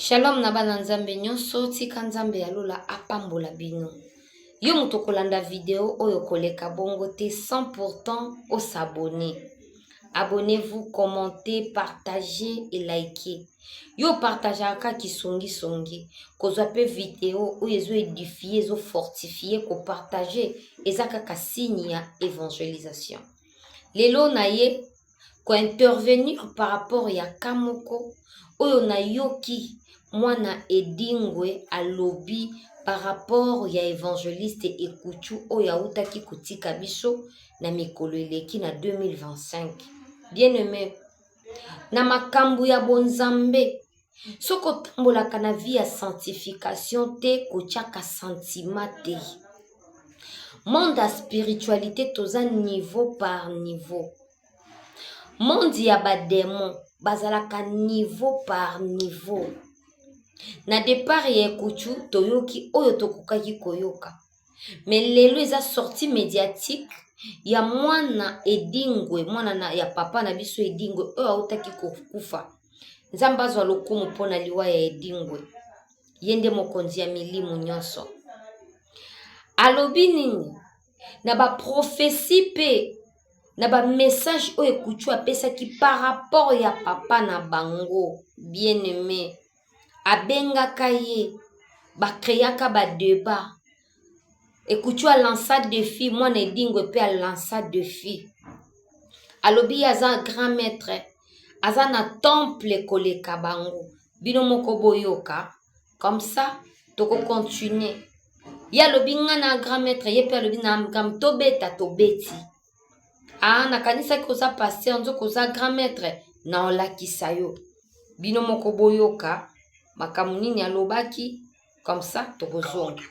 Shalom na bana Nzambe nyonso, tika Nzambe ya lola apambola bino. Yo moto okolanda video oyo koleka bongo te sans pourtant osabone. Abonnez-vous, commentez, partagez et likez. Yo partageaka kaka kisongisongi, kozwa mpe video oyo ezo edifie, ezo fortifie, kopartage eza kaka signe ya evangelisation. Lelo na ye ko intervenir par rapport ya cas moko oyo nayoki mwana Edingwe alobi par rapport ya evangeliste Ekutshu oyo awutaki kotika biso na mikolo eleki na 2025. Bien aime, na makambu ya bonzambe soki otambolaka na vie ya sanctification te kotiaka sentiment te monde ya spiritualité toza niveau par niveau monde ya bademon bazalaka niveau par niveau na depart ya ekutu toyoki oyo tokokaki koyoka me lelo eza sortie mediatique ya mwana edingwe mwana na, ya papa na biso edingwe oyo autaki kokufa nzambe azwa lokumu mpo na liwa ya edingwe ye nde mokonzi ya milimu nyonso alobi nini na baprofesi mpe na bamessage oyo ekutu apesaki par rapport ya papa na bango bien aime abengaka ye ba creaka ba debat ekutshu a lansa defi mwana edingwe mpe a lansa defi alobi ye aza grand maitre aza na temple koleka bango bino moko boyoka comme ça tokocontinue ye alobi ngai na grand maitre ye mpe alobi na amgam tobeta tobeti Ah, nakanisaki oza pasteur nzoka oza grand maître na olakisa yo bino moko boyoka makambo nini alobaki comme ça tokozonga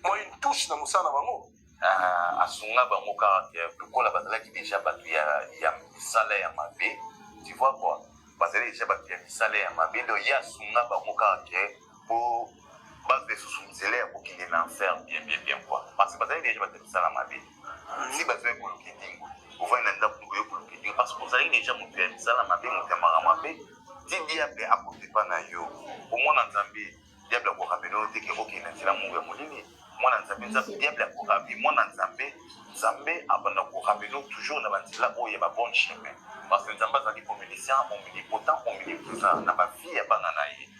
mwa une touche na mosala na bango ah, asunga bango kaka ke lokola bazalaki deja bato ya misala ya mabe tu vois quoi bazali deja bato ya misala ya mabe donc ye asunga bango kaka ke po bazo esusu nzela ya kokende na enfer bien bien bien quoi parce que bazali deja bato misala mabe si bato ya kolokidingo ovandi na ndako oyo kolokidingo parce que ozali deja moto ya misala mabe moto ya mara mabe ti diable akotepa na yo omona nzambe diable akoramela oyo te ke okende nzela mungu ya molili mwana nzambe nzambe diable akorabi mwana nzambe nzambe abanda koramelo toujours na banzela oyo ya babonne chemin parce que nzambe azali omniscient omnipotent omnipotent na bavie ya bana na ye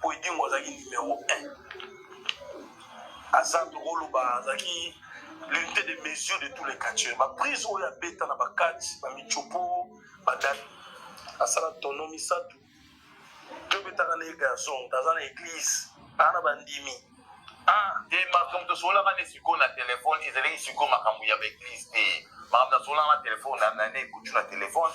po edingo azalaki numero 1 aza tokoloba azalaki l'unité de mesure de tous les catcheurs baprise oyo abeta na bakati bamicopo badali asala tono misato tobetaka na ye garçon aza na église aa na bandimi ah, e makambo tosololaka nde sikoyo na telefone ezalaki sikoyo makambo ya baeglise te makambo nasololaka na telefone na nane ekutu na telefone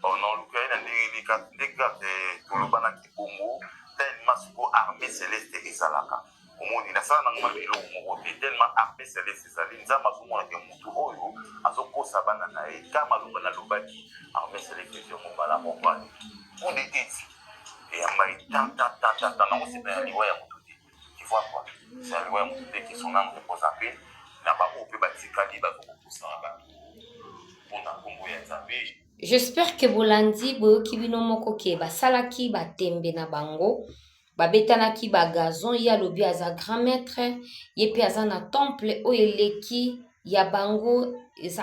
Bon, na oluka ye na ndenge nini kaka ndenge kaka eh, tolobanaki bongo tellement siko armée celeste ezalaka omoni nasala nango mabe eloko moko te tellement armée celeste ezali nzambe azomona ke motu oyo azokosa bana na ye ka maloba nalobaki armée celeste ezwi yango mbala moko ale kudeteti eyamba ye tantantantantan nakosepela liwa ya motu te Ivoire quoi. C'est un loi mutute que son âme repose en paix. Na ba ope ba tikali ba ko pousa ba pona kombo ya Nzambe. J'espère que bolandi boyoki bino moko ke basalaki batembe na bango babetanaki bagazon ye alobi aza grand maître ye mpe aza na temple oyo eleki ya bango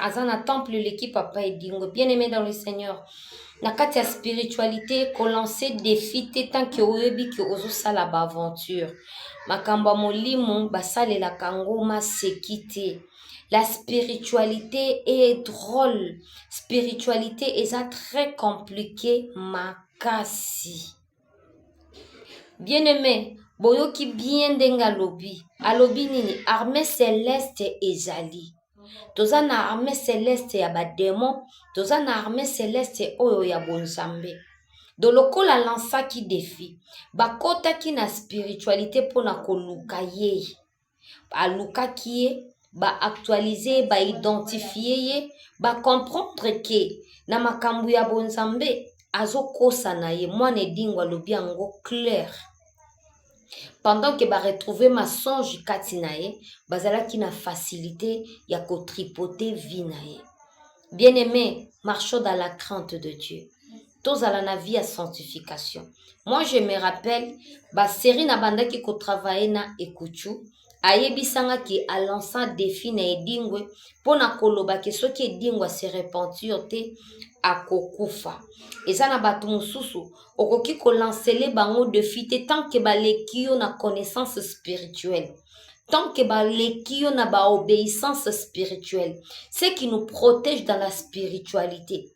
aza na temple eleki papa edingo bien aimé dans le seigneur na kati ya spiritualité kolancer défi te tant que oyebi ke ozosala baaventure makambo ya molimo basalelaka yango maseki te la spiritualité est drôle spiritualité eza très compliqué makasi bien aime boyoki bien ndenge alobi alobi nini armée celeste ezali toza na armée celeste ya bademon toza na armée celeste oyo ya bonzambe do lokola alansaki defi bakotaki na spiritualité mpo na koluka ye alukaki ye ba actualise ye ba identifie ye ba comprendre ke na makambo ya bonzambe azokosa na ye mwana edingo alobi yango clair pendant ke ba retrouve mensonge kati na ye bazalaki na facilite ya kotripote vie na ye bien aime marchons dans la crainte de dieu tozala na vie ya sanctification moi je me rappelle baserie nabandaki kotravaille na ekuchu ayebisanga ke alansa defi na edingwe mpo na koloba ke soki edingwe ase repentir te akokufa eza na bato mosusu okoki kolansele bango defi te tant ke baleki yo na connaissance spirituelle tant que baleki yo na baobéissance spirituelle ce qui nous protège dans la spiritualité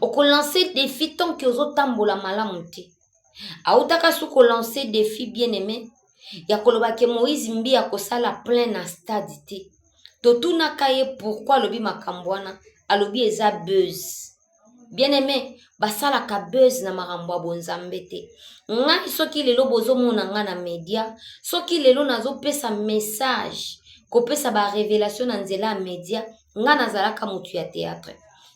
okolanse defi tanke ozotambola malamu te autaka su kolanse defi bien aime ya koloba ke moïse mbi akosala plein na stade te totunaka ye pourkui alobi makambo wana alobi eza buzz bien aime basalaka buzz na makambo ya bonzambe te ngai soki lelo bozomona ngai na media soki lelo nazopesa message kopesa barevelation na nzela ya media nga nazalaka mutu ya théâtre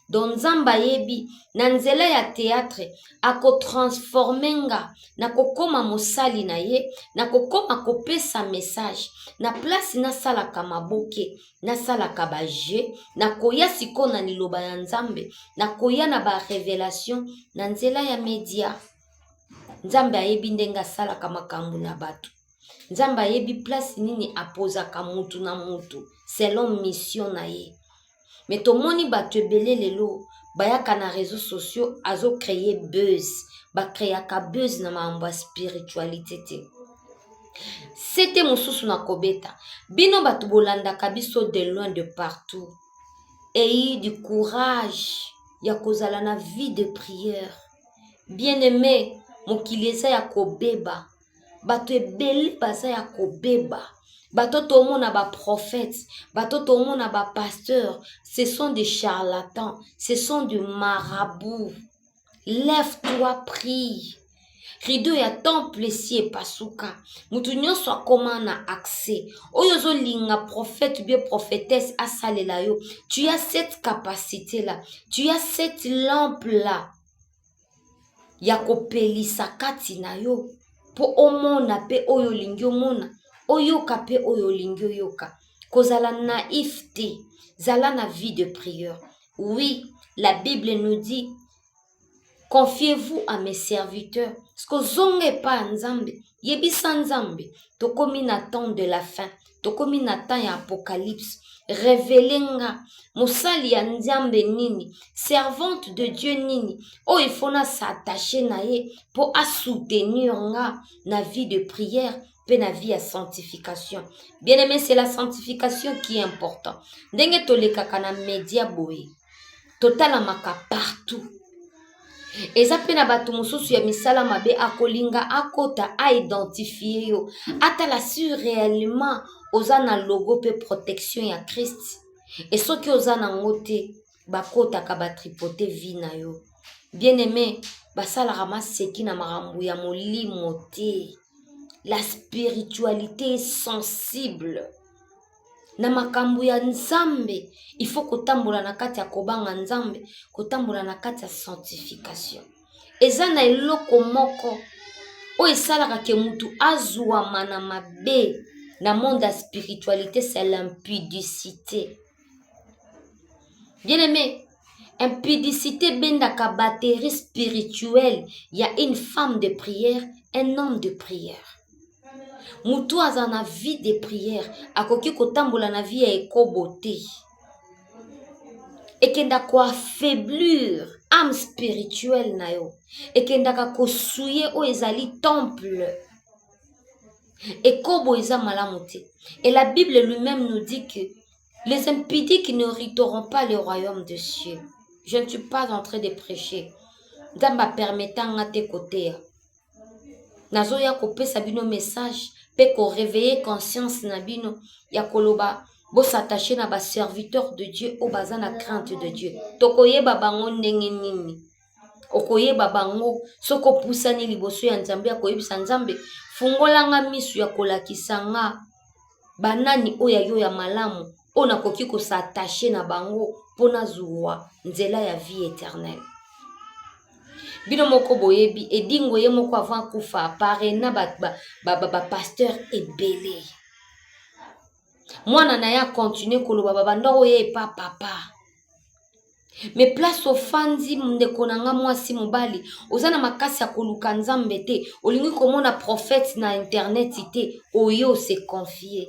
donc nzambe ayebi na nzela ya théâtre akotransforme nga nakokoma mosali na ye nakokoma kopesa message na place nasalaka maboke nasalaka bajeu nakoya sikoyo na liloba ya nzambe nakoya na barevelation na nzela ya media nzambe ayebi ndenge asalaka makambo na bato nzambe ayebi place nini apozaka mutu na mutu selon mission na ye me tomoni bato ebele lelo bayaka na réseau sociaux azocreye buzz bacreaka buzz na makambo ya spiritualité te sete mosusu na kobeta bino bato bolandaka biso de loin de partout eyi du courage ya kozala na vie de prière bien aimé mokili eza ya kobeba bato ebele baza ya kobeba bato tomona baprophète bato tomona bapasteur ce sont des charlatans ce sont de marabout lève toi prie rido ya temple esi epasuka moto nyonso akoma na accès oyo ozolinga prophète bie prophétesse asalela yo tu as cette capacité là tu as cette lampe là ya kopelisa kati na yo mpo omona mpe oyo olingi omona oyoka mpe oyo olingi oyoka kozala naif te zala na vie de prieur oui la bible nous dit confiez-vous à mes serviteurs skozonga epai ya nzambe yebisa nzambe tokomi na temps de la fin tokomi na temps ya apocalypse revele nga mosali ya nzambe nini servante de dieu nini oyo oh, ifo na s'attache na ye mpo asoutenir nga na vie de prière mpe na vie ya sanctification bien aimé c'est la sanctification qui est important ndenge tolekaka na media boye totalamaka partout eza mpe na bato mosusu ya misala mabe akolinga akota aidentifie yo atala si réellement oza na logo mpe protection ya krist e soki oza nango te bakotaka batripote vie na yo bien aime basalaka maseki na makambo ya molimo te la spiritualité est sensible na makambo ya nzambe il faut kotambola na kati ya kobanga nzambe kotambola na kati ya sanctification eza na eloko moko oyo esalaka ke motu azwama na mabe na monde ya spiritualité c'est l'impudicité bien aimé impudicité ebendaka batterie spirituelle ya une femme de prière un homme de prière motu aza na vie de prière akoki kotambola na vie ya ekobo te ekenda koaffaiblir ame spirituelle na yo ekendaka kosuye oyo ezali temple ekobo eza malamu te et la bible lui-même nous dit que les impudiques ne riteront pas le royaume de cieux je ne suis pas en train de prêcher nzambe apermeta nga te koteya nazoya kopesa bino message mpe koreveille conscience na bino ya koloba bosattache na baserviteur de dieu oyo baza na crainte de dieu tokoyeba bango ndenge nini okoyeba bango soki opusani liboso ya nzambe ya koyebisa nzambe fungolanga miso ya kolakisa nga banani oyo ya yo ya malamu oyo nakoki kosatache na bango mpo nazwa nzela ya vie éternelle bino moko boyebi edingo ye moko avant akufa parena bapasteur ba, ba, ba ebele mwana na ye akontinue koloba babanda oyo epa papa me place ofandi ndeko na nga mwasi mobali oza na makasi ya koluka nzambe te olingi komona prophète na internet te oyo se confie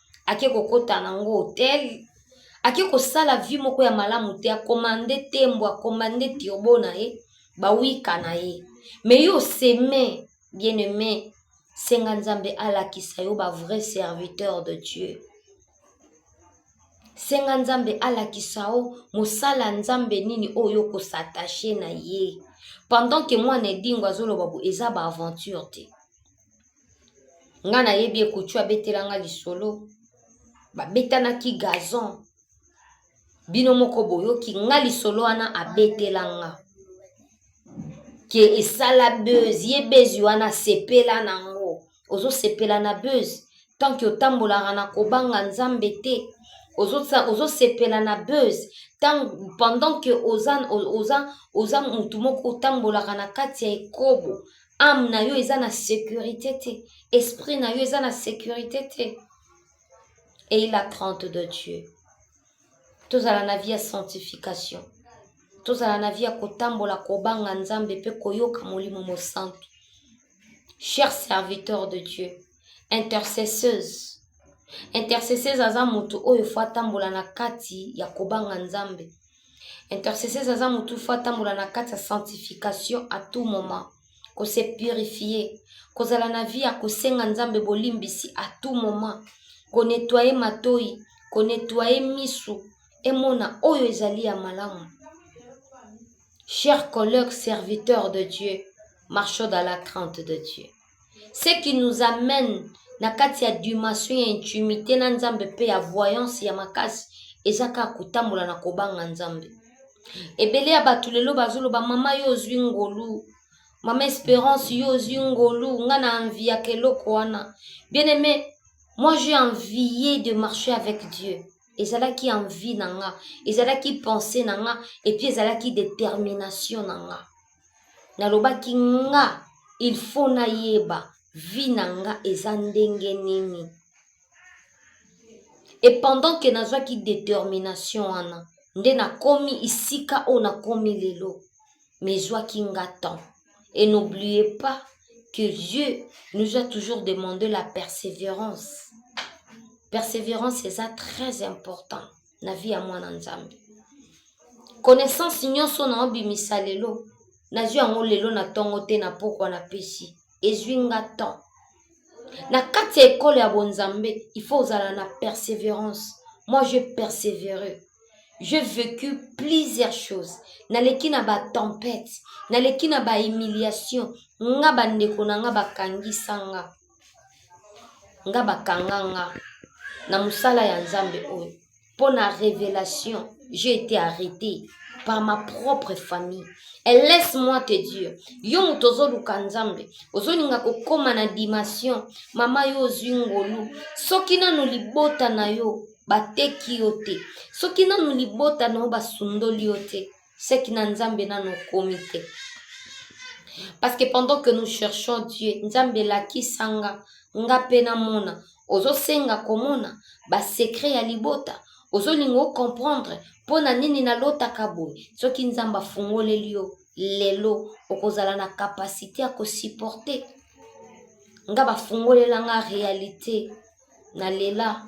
ake kokota na yango hotel ake kosala vie moko ya malamu te akomande tembo akomande turbo na ye bawika na ye me yo oseme bien aime senga nzambe alakisa yo ba vrai serviteur de dieu senga nzambe alakisa yo mosala nzambe nini oyo okosatache na ye pendant ke mwana edingo azoloba bo eza baaventure te nga nayebi ekutu abetela nga lisolo babetanaki gazon bino moko boyoki nga lisolo wana abetela nga ke esala buzz ye bezi wana asepela nango ozosepela na buzz tanke otambolaka na kobanga nzambe te ozosepela ozo na buzz tango pendant ke oza, oza, oza motu moko otambolaka na kati ya ekobo ame na yo eza na securite te esprit na yo eza na securite te eye la crainte de dieu tozala na vie ya sanctification tozala na vie ya kotambola kobanga nzambe mpe koyoka molimo mosantu cher serviteur de dieu intercesseuse intercesseuse aza moto oyo fo atambola na kati ya kobanga nzambe Intercesseuse aza mutu faut atambola na kati ya sanctification à tout moment. Ko se purifier, kozala na vie ya kosenga Nzambe bolimbisi à tout moment, ko nettoyer matoyi, ko nettoyer misu, emona oyo ezali ya malamu. Chers collègues serviteurs de Dieu, marchons dans la crainte de Dieu. ce qui nous amène na kati ya dimension ya intimité na nzambe mpe ya voyance ya makasi eza kaka kotambola na kobanga nzambe ebele ya bato lelo bazoloba mama yo ozwi ngolu mama esperance yo ozwi ngolu nga na envi ya keloko wana bien aime moi j'ai envie de marcher avec dieu ezalaki envi na nga ezalaki pensée na nga epuis ezalaki détermination na nga nalobaki nga il faut nayeba vie na nga eza ndenge nini et pendant que nazwaki détermination wana nde nakomi isika oyo nakomi lelo me ezwaki nga temps et n'oublie pas que dieu nous a toujours demandé la persévérance persévérance eza très important na vie ya mwana nzambe connaissance nyonso na obimisa lelo nazwi yango lelo na ntongo te na pokwa na pesi ezwi nga temps na kati ya ekolo ya bonzambe il faut ozala na persévérance moi je persévéreux je vécu plusieurs choses naleki na batempete naleki na bahumiliation nga bandeko na nga bakangisa nga nga bakanga nga na mosala ya nzambe oyo mpo na révélation j'ai été arrêté par ma propre famille et laisse moi te dire yo moto ozoluka nzambe ozolinga kokóma na dimension mama yo ozwi ngolu soki nanu libota na yo bateki yo te soki nanu libota na yo basundoli yo te seki na nzambe nano okomi te parce que pendant que nous cherchons dieu nzambe elakisa nga nga mpe namona ozosenga komona basekre ya libota ozolinga ocomprendre mpo na nini nalotaka boye soki nzambe afungoleli yo lelo okozala na kapasite ya kosupporte nga bafungolela nga realite na lela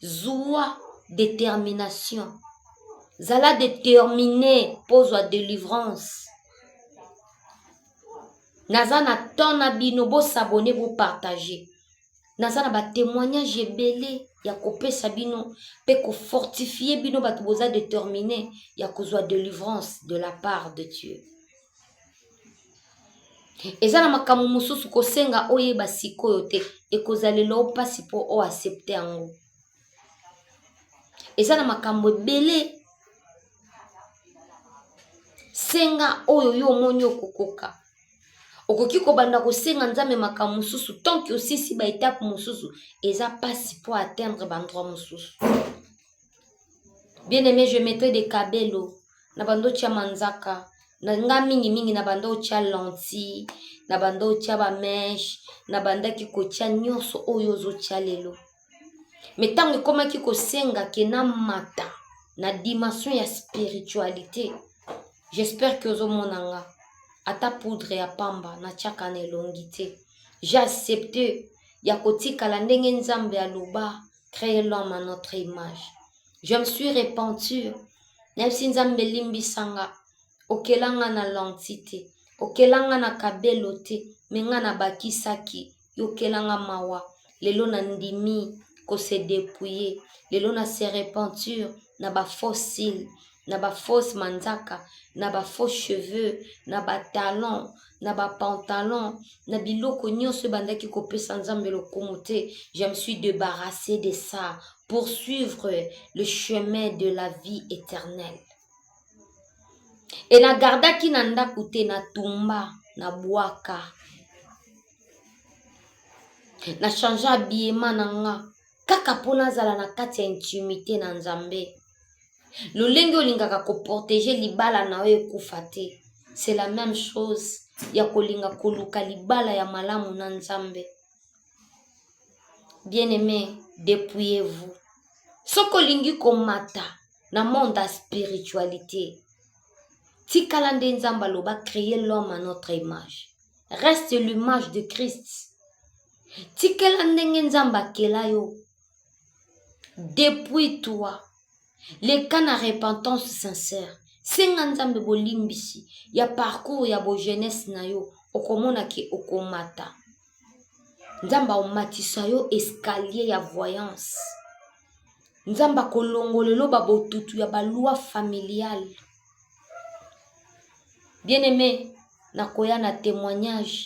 zua determination zala determine mpo ozwa delivrance naza na temps na bino bosabone bopartage naza na batémoignage ebele ya kopesa bino mpe kofortifie bino bato boza determine ya kozwa delivrance de la part de dieu eza na makambo mosusu kosenga oyeba sikoyo te ekozalelo mpasi mpo o accepte yango eza na makambo ebele senga oyo yo omoni okokoka okoki kobanda kosenga nzambe makambo mosusu tanke osisi baetape mosusu eza mpasi mpo atteindre bandroit mosusu Bien aime, je mettrai des cabelo na banda otia manzaka na nga mingi mingi na banda otia lentille na banda otia ba mèche na bandaki kotia nyonso oyo ozotia lelo me ntango ekomaki kosenga ke na mata na dimension ya spiritualité j'espère que ozomona nga ata poudre ya pamba natiaka na elongi te j'ai accepte ya kotikala ndenge nzambe aloba créer l'homme à notre image je me suis repenti nayebisi nzambe elimbisa nga okela nga na lenti te okela nga na kabelo te me nga nabakisaki yokela nga mawa lelo nandimi kose depouiller lelo na se repentir na bafossile na ba fausse manzaka na ba faux cheveux na ba talon na ba pantalon na biloko nyonso ebandaki kopesa nzambe lokumu te je me suis débarrassé de ça pour suivre le chemin de la vie éternelle e nagardaki na ndako te na tumba na bwaka na change abiema na nga kaka mpo nazala na kati ya intimité na nzambe lolenge olingaka koprotege libala na yo ekufa te c'est la même chose ya kolinga koluka libala ya malamu na nzambe bien aimé depouillez vous soki olingi komata na monde ya spiritualité tikala nde nzambe aloba créer l'homme à notre image reste l'image de christ tikela ndenge nzambe akela yo depuis toi leka na repentance sincère senga nzambe bolimbisi ya parcours ya bojeunesse na yo okomona ke okomata nzambe aomatisa yo escalier ya voyance nzambe akolongola eloba botutu ya balwa familiale bien aime nakoya na témoignage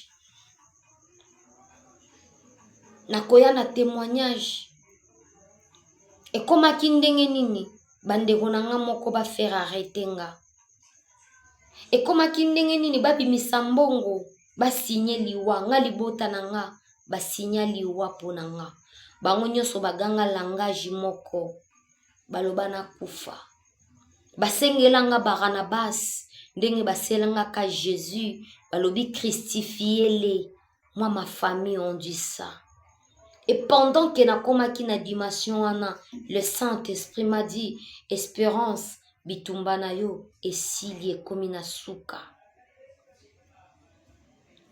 nakoya na temoignage ekomaki ndenge nini bandeko na nga moko bafere arete nga ekomaki ndenge nini babimisa mbongo basigne liwa nga libota na nga basigna liwa mpo na nga bango nyonso baganga langage moko baloba na kufa basengelanga baranabas ndenge baselangaka jesus balobi christifiele mwa ma famille on dit ça et pendant ke nakomaki na dimension wana le saint esprit m'a dit espérance bitumba na yo esili ekomi na suka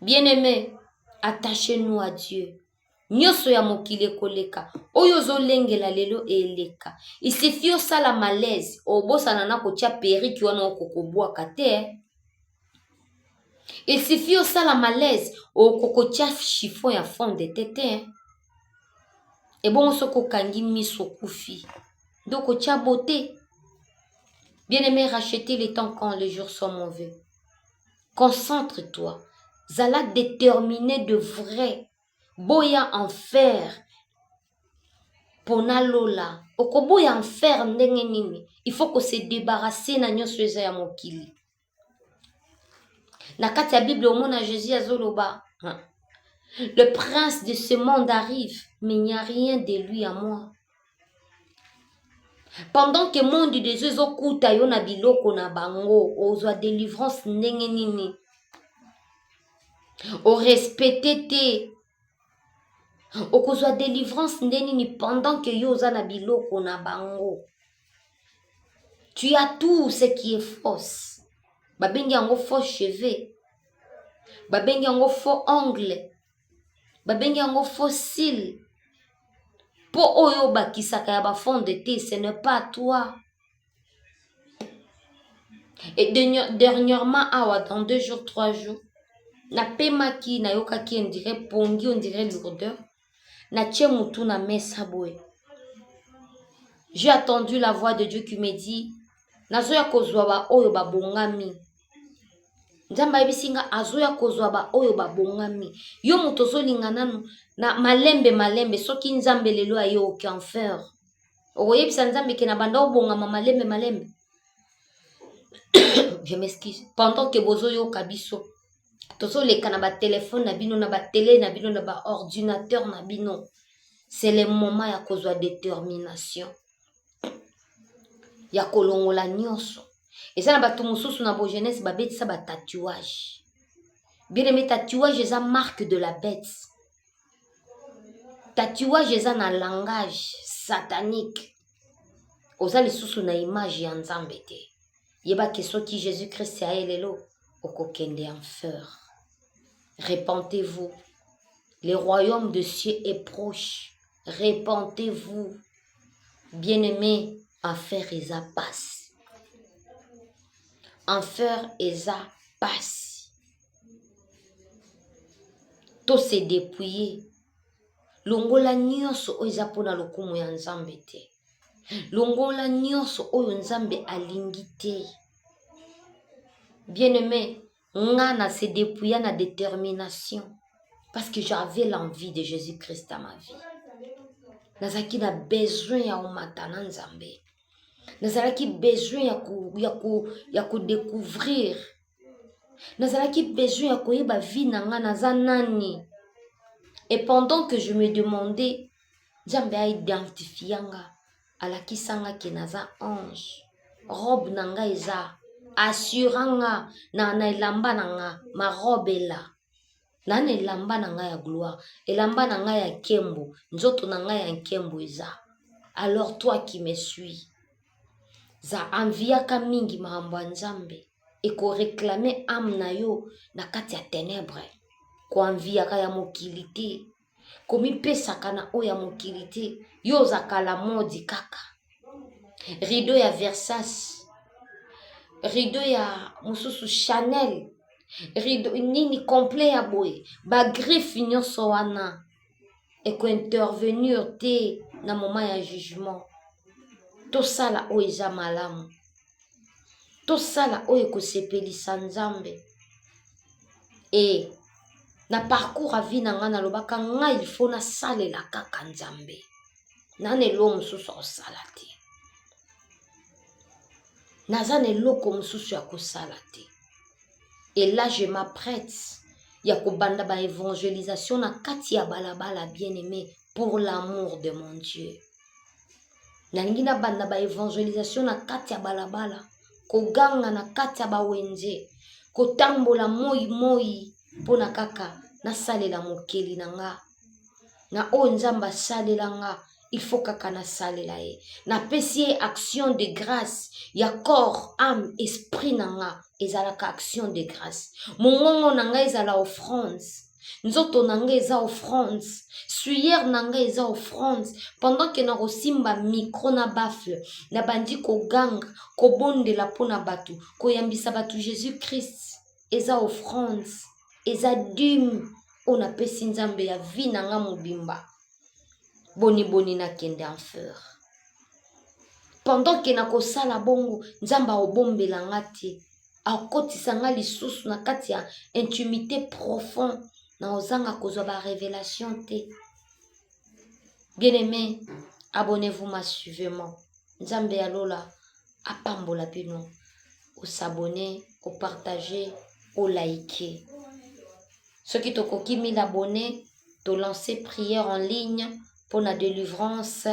bien aimé attache nous à dieu nioso ya mokili ekoleka oyo ozolengela lelo eleka isifi osala malaise obosana na kotia periki wana okokobwaka te isifi osala malaise okokotia chiffon ya fonde te te ebongo soki okangi miso okufi nde okotia bote bien aime racheter le temps quand les jours sont mauvais concentre toi zala determine de vrai boya enfer pona lola okoboya enfer ndenge nini il faut ko se débarrasser na nyonso eza ya mokili na kati ya bible omona jésus azoloba le prince de ce monde arrive mais il n'y a rien de lui à moi pendant que monde des yeux ezokuta yo na biloko na bango ozwa délivrance ndenge nini orespecte te okozwa délivrance nde nini pendant que yo oza na biloko na bango tu as tout ce qui est fausse babengi yango faux cheveux babengi yango faux ongle babengi yango fossile mpo oyo obakisaka ya bafond de te ce ne pas toi et dernièrement awa dans deux jours trois jours napemaki nayokaki ondire pongi ondire lourdeur natie motu na mesa boye j'ai attendu la voix de dieu qui me dit nazoya kozwa baoyo babongami nzambe ayebisi nga azoya kozwa baoyo babongami yo moto ozolinga nanu na malembe malembe soki nzambe lelo aye okenfer okoyebisa nzambe ke na banda obongama malembe malembe je m'excuse pendant ke bozoyoka biso tozoleka na batelefone na bino na batele na bino na baordinateur na bino c'est le moment ya kozwa détermination ya kolongola nyonso eza na bato mosusu na bogenese babetisa batatuage bieneme tatuage eza marque de la bete tatuage eza na langage satanique oza lisusu na image ya nzambe te yebake soki jésus christ ya ye lelo okokende en feur repentez-vous le royaume de cieux est proche repentez-vous bien aimé enfer eza pasi enfer eza pasi to se depouiller longola nyonso oyo eza mpo na lokumu ya nzambe te longola nyonso oyo nzambe alingi te bien aimé nga na se depouilla na determination parce que j'avais l'envie de jésus christ à ma vie nazalaki na besoin ya omata na nzambe nazalaki besoin ya, ko, ya, ko, ya kodecouvrir nazalaki besoin ya koyeba vie na nga naza nani et pendant que je me demandais nzambe aidentifia nga alakisa nga ke naza ange robe na nga eza assura nga na, na elamba na nga ma robe ela na na elamba na nga ya gloire elamba na nga ya nkembo nzoto na nga ya nkembo eza alors toi qui me suis za anviaka mingi makambo ya nzambe ekoreklame ame na yo na kati ya tenebre koanviaka ya mokili te komipesaka na oyo ya mokili te yo oza kala modi kaka rido ya versas rido ya mosusu chanel rido nini complet ya boye bagriffe nyonso wana ekointervenir te na moment ya jugement tosala oyo eza malamu tosala oyo ekosepelisa nzambe e na parcours ya vie na ngai nalobaka ngai ilfo nasalela kaka nzambe nana elo mosusu akosala te naza na eloko mosusu ya kosala te ela je m'apprête ya kobanda baevangelisation na kati ya balabala bien aimé pour l'amour de mon dieu nalingi nabanda ba evangelisation na kati ya balabala koganga na kati ya bawenze kotambola moi moi mpo na kaka nasalela mokeli na nga na oyo nzambe asalela nga il faut kaka nasalela ye napesi ye action de grâce ya corps ame esprit na nga ezalaka action de grâce mongongo na nga ezala offrande nzoto na nga eza offrande suyer na nga eza offrande pendant ke na kosimba micro na bafle na bandi koganga kobondela mpo na bato koyambisa bato jésus christ eza offrande eza dime oyo napesi nzambe ya vie na nga mobimba boniboni nakende en fleur pendant ke na kosala bongo nzambe akobombela nga te akotisa nga lisusu na kati ya intimité profond na ozanga kozwa ba révélation te bien aimé abonnez-vous massivement nzambe ya lola apambola bino osabone opartage olike soki tokoki 1000 abonne to lancer prière en ligne mpo na delivrance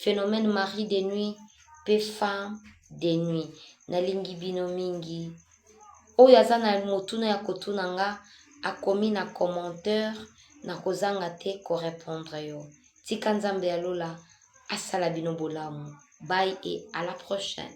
phénomène mari de nuit mpe femme de nuit nalingi bino mingi oyo aza na motuna ya kotuna nga akomi na commentaire nakozanga te korepondre yo tika nzambe ya lola asala bino bolamu bye et à la prochaine